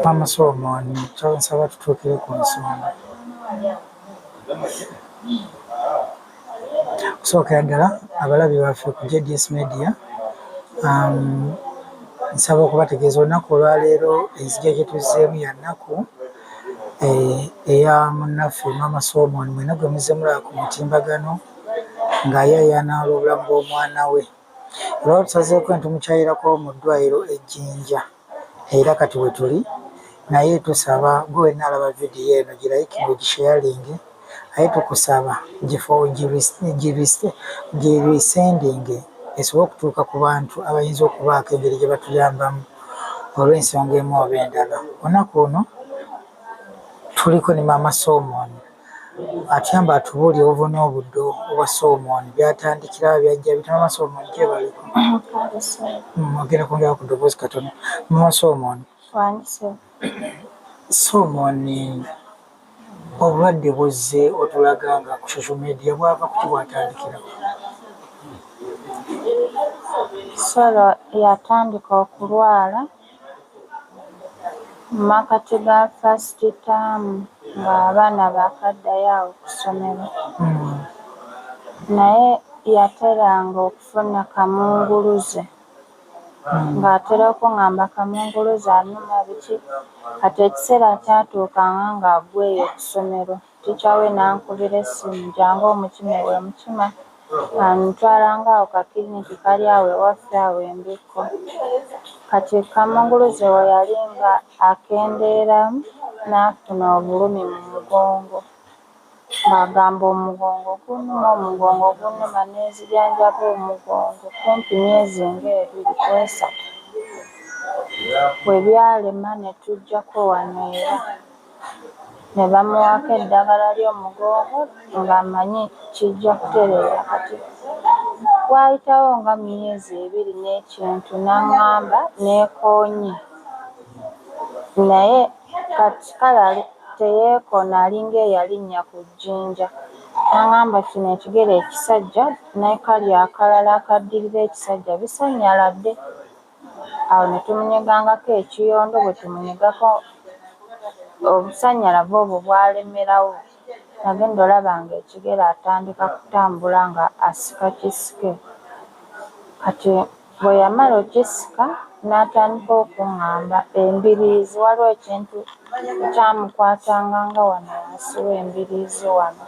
Maama Solomon kyaba nsaba tutuukire ku nsonga. Okusookera ddala abalabi baffe ku JDS Media um, nsaba okubategeeza olunaku olwaleero enzija gye tuzzeemu ya nnaku eh, eya munnaffe Maama Solomon mwena gwe muzze mulaba ku mutimbagano ng'ayayana olw'obulamu bw'omwana we. Olwatusazeeko netumukyayirako mu ddwaliro e Jinja era kati wetuli naye tusaba gwe wenna alaba video eno gilayikinge ogisheyalinge aye tukusaba girisendinge esobole okutuuka ku bantu abayinza okubaako engeri gye batuyambamu olw'ensonga emu oba endala. Olunaku luno tuliko ne maama Soomooni. Atyamba atubuulire obuvune obuddo obwa Solomon byatandikirawo byajja bitya mama Solomon gyebaleko mwogere kwongera ku ddoboozi katono mama Solomon Solomon obulwadde buzze otulaga nga ku social media bwava kuki bwatandikirawo Solo yatandika okulwala mu makkati ga fasiti taamu ng'abaana baakaddayo awo ku ssomero naye yateranga okufuna kamunguluze ng'atera okung'amba kamunguluze aluma biki kati ekiseera kyatuukanga ng'agwa eyo ku ssomero Teacher we n'ankubira essimu, Jangu omukime ewe Mukima, antwalanga awo ka clinic kali awo ewaffe awo e Mbikko. Kati Kamunguluze we yali nga akendeera n'afuna obulumi mu mugongo ng'agamba omugongo gunnuma, omugongo gunnuma n'ezijanjaba omugongo kumpi myezi nga ebiri ku esatu we byalema ne tujjako wano era. ne bamuwaako eddagala ly'omugongo ng'amanyi kijja kutereera kati waayitawo nga myezi ebiri n'ekintu n'ang'amba neekoonye naye kati kale teyeekoona alinga eyalinnya ku jjinja n'ang'amba kino ekigere ekisajja ne kali akalala akaddirira ekisajja bisanyaladde. Awo ne tumunyegangako ekiyondo, bwe tumunyegako obusannyalavu obwo bwalemerawo, nagenda olaba ng'ekigere atandika kutambula ng'asika kisike. Kati bwe yamala okukisika n'atandika okung'amba embiriizi, waliwo ekintu ekyamukwatanga nga wano wansi w'embiriizi wano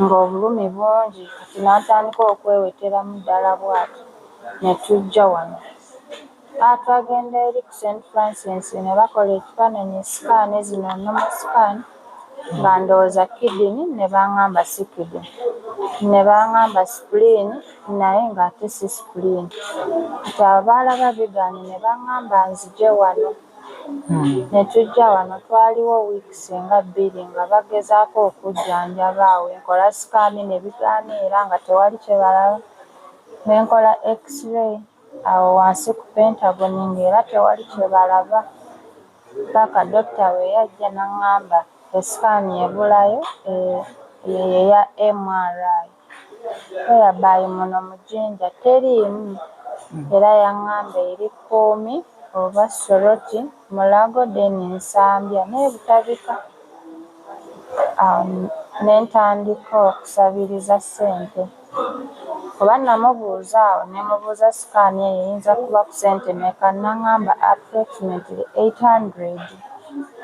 ng'obulumi bungi kati n'atandika okweweteramu ddala bw'ati. ne tujja wano. Aa twagenda eri ku St. Francis ne bakola ekifaananyi, sikaani zino, normal scan, nga ndowooza kidini ne bangamba si kidini. Ne bangamba sipuliini naye ng'ate si sipuliini. Kati abo baalaba bigaanyi ne bangamba nzije wano. Ne tujja wano, twaliwo wiikisi nga bbiri nga bagezaako okujjanjaba. Awo we nkola sikaani ne bigaana era nga tewali kye balaba. Ne nkola X-ray awo wansi ku pentagoni ng'era tewali kye balaba paka dokita bwe yajja n'ang'amba esikaani ebulayo eyo ye ya MRI. Whereby muno mu Jinja teriimu era yang'amba eri Kkuumi oba Soroti. Mulago then Nsambya ne Butabika awo ne ntandika okusabiriza ssente kuba namubuuza awo ne mubuuza sikaani eyo eyinza kuba ku ssente mmeka n'ang'amba approximately eight hundred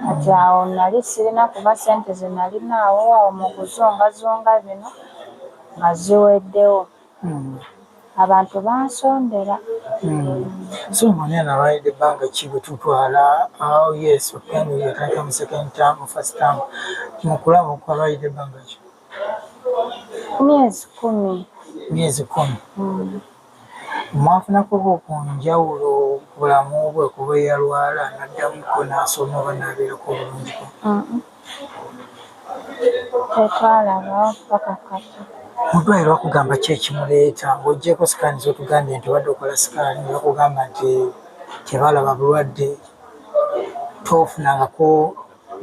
kati awo nali sirina kuba ssente ze nalinaawo awo mu kuzungazunga bino nga ziweddewo. Hmm. abantu bansondera hmm. so mwana nabayidde ebbanga ki bwetutwala oh, yes okugenda yatandika mu second term first term mukulaba okwabayidde ebbanga ki myezi kumi myezi kumi hmm. mwafunako ku njawulo bulamu bwe kuba eyalwala naddamukko nasoma oba nabeerako obulungiko tetwalaba paka kati mudwaliro bakugamba ki ekimuleeta ngaogyeko sikaani zotugambye nti obadde okola sikaani bakugamba nti tebalaba bulwadde tofunangako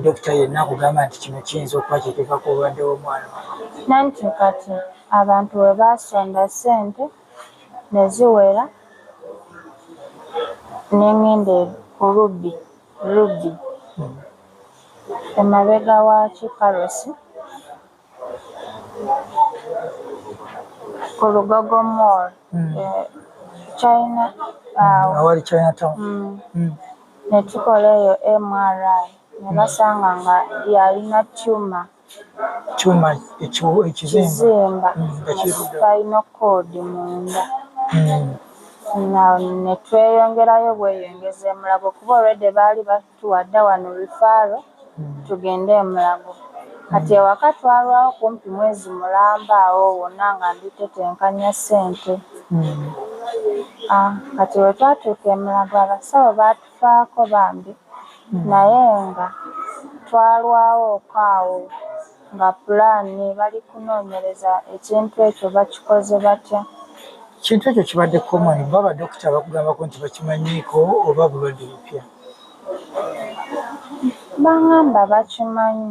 dokita yenna akugamba nti kino kiyinza okuba kyekiva ku bulwadde womwana nanti kati abantu webasonda sente neziwera nengende kulubbi Ruby, emabega wa Kiparosi, ku Lugogo Mall, hmm. eh, China awo. Hmm, awali China Town. Hmm. Ne tukola eyo MRI ne basanga nga yalina tumor. kyuma ekizimba spinal cord munda hmm. ne tweyongerayo bweyongezi e Mulago kuba already baali batuwa dda wano rifaaro hmm. tugende e Mulago kati ewaka twalwawo kumpi mwezi mulamba awo wonna nga nditetenkanya ssente hmm. ah, kati we twatuuka e Mulago abasawo baatu Faako bambi naye nga twalwawo okaawo nga plan bali kunonyereza ekintu ekyo bakikoze batya. Ekintu ekyo kibadde common kuba ba doctor bakugambako nti bakimanyiiko oba bulwadde bupya. Bangamba bakimanyi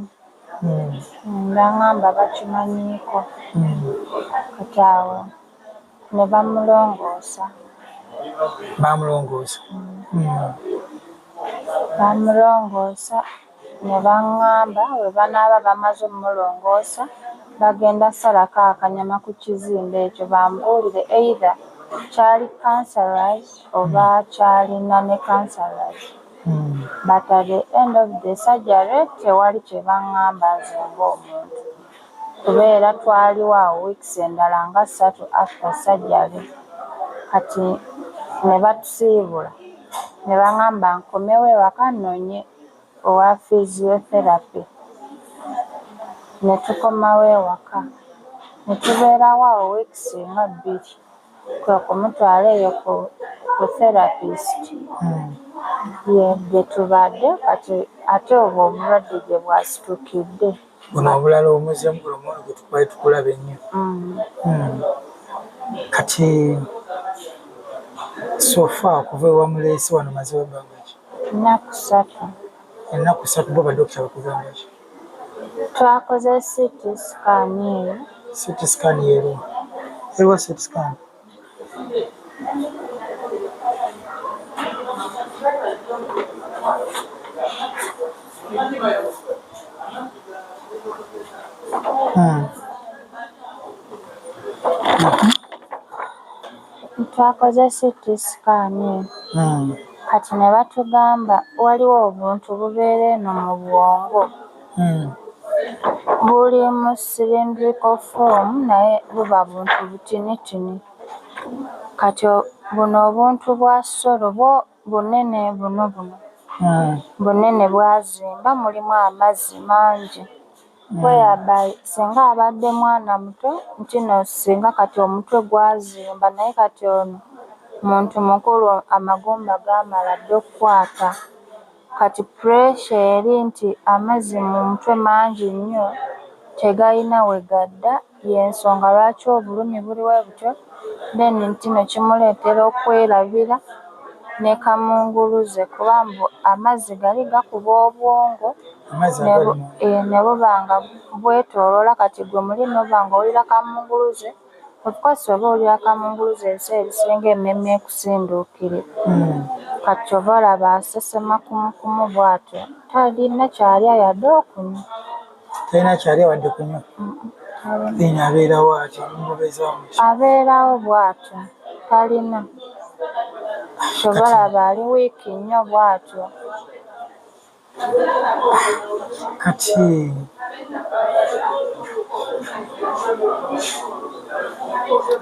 hmm. bangamba bakimanyiiko hmm. kati awo. Ne bamulongoosa. Baamulongoosa. Mm. Mm. Baamulongoosa ne baŋŋamba bwe banaaba bamaze omulongoosa bagenda salako akanyama ku kizimbe ekyo bambuulire either kyali cancerous oba hmm. kyalina ne cancerous hmm. but at the end of the surgery tewali kye baŋŋamba nze ng'omuntu kubeera twaliwo awo weeks endala nga satu after surgery kati nebatusiibula nebangamba nkomewo ewaka nonye owa physiotherapy netukomawo ewaka netubeerawo awo weeks nga bbiri kwekumutwala eyo ku ku therapist hmm. ye gyetubadde kati ate obwo obulwadde gyebwasitukidde guno obulala omuze mugulomolo gwetukwali tukulaba ennyo mm. hmm. kati sofa okuva ewamuleesi wano mazewo ebbanga ki ennaku satu ennaku satu bo badokita bakugamba ki twakoze city scan eyo city scan yeruwa eruwa city scan twakoze CT scan hmm. kati ne batugamba waliwo obuntu bubeera eno mu bwongo. Hmm. Buli mu sirindriko foomu naye buba buntu butinitini. Kati buno obuntu bwa solo bwo bunene buno buno. Hmm. Bunene bwazimba mulimu amazzi mangi. Hmm. Whereby singa abadde mwana muto ntino singa kati omutwe gwazimba naye kati ono muntu mukulu amagumba gamala dda okukwata. Kati pressure eri nti amazi mu mutwe mangi nnyo tegalina wegadda yensonga lwaki obulumi buli webutyo then ntino kimuletera okwelabira ne kamunguluze kuba mbu amazzi gali gakuba obwongo nebubanga bwetolola kati gwe muli nobanga owulira kamunguluze. Of course oba oli akamunguluze ensi ebisinga ememe ekusinduukire mm. kati oba olaba asesema kumukumu bwatyo talina kyalya yadde okunywa talina kyalya wadde kunywa ina abeerawo atyo mubezamu abeerawo bwatyo talina kyobalaba ali wiiki nnyo bwatyo kati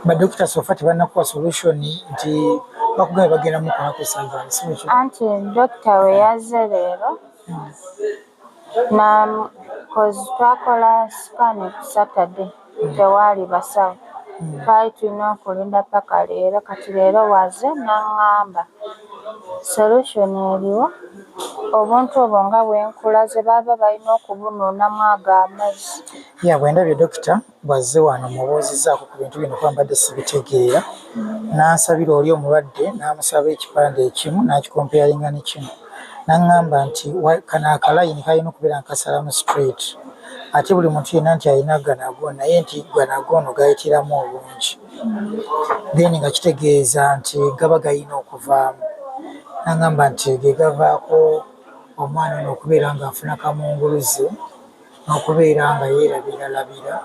badokita sofa tebanakuwa solution nti bakugamba bagenda mukola ku surgery si ekyo anti dokita we yazze leero hmm. na cause twakola scan ku saturday tewaali basawo twali tulina okulinda paka leero kati leero waze nangamba solution eriwo obuntu obwo nga bwenkulaze baba balina okubunuunamu ago amazzi ya bwendabye dokita bwazze wano mubuuzizaako ku bintu bino kuba mbadde sibitegeera nansabira oli omulwadde namusaba ekipande ekimu nakikompeyalinga ne kino nangamba nti kano akalayini kalina okubeera nkasalamu straight ate buli muntu yenna nti alina ganago naye nti ganago ono gayitiramu obungi then nga kitegeeza nti gaba galina okuvaamu nagamba nti gegavaako omwana ono okubeera nga afuna kamunguluze n'okubeera nga yeerabiralabira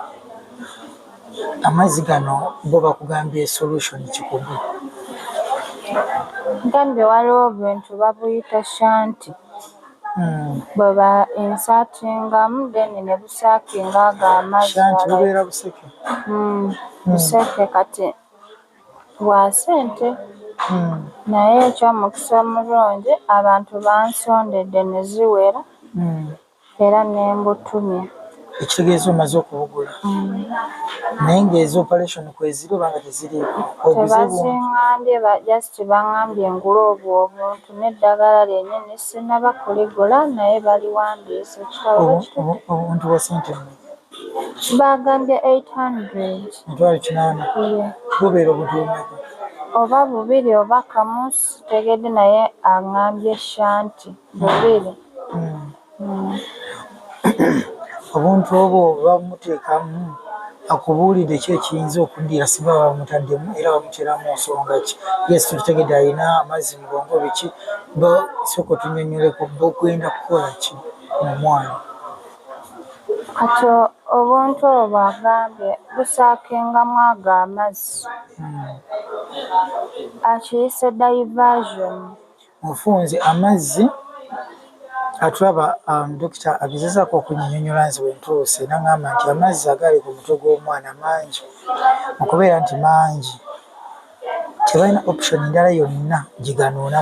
amazzi gano bo bakugambye solution kikugu gambye waliwo bintu babuyita shanti Hmm. Bweba ensakingamu then ne busakinga ago amazzi. Shanti bubeera buseke. Hmm. Hmm. Buseke kati bwa sente. Hmm. Naye eky'omukisa omulungi abantu bansondedde ne ziwera hmm. era ne mbutumya. ekitegeeza omaze okubugula naye ngaezo operation kweziri obanga teziriiko tebazingambye just bangambye ngula obwo obuntu neddagala lyenyini sinaba kuligula naye baliwandiise obuntu bwa sente bagambye 800 bubeera obuntu bumeka oba bubiri oba kamu sitegedde naye angambye shanti bubiri hmm. obuntu obwo bamutekamu akubuulidde ki ekiyinza okuddira singa bamutaddemu era bamuteramu nsonga ki yesu tukitegedde alina amazzi mugongo biki soka otunyonyoleko bogenda kukola ki mumwana kati obuntu obwo bwagambye busaakengamu ago amazzi hmm. akiyise diversion mufunze amazzi atulaba um, dokita agezezako okunyinyonyola nze wentuuse nagamba nti amazzi agali ku mutwe gw'omwana mangi okubeera nti mangi tebalina option endala yonna gyeganuunamu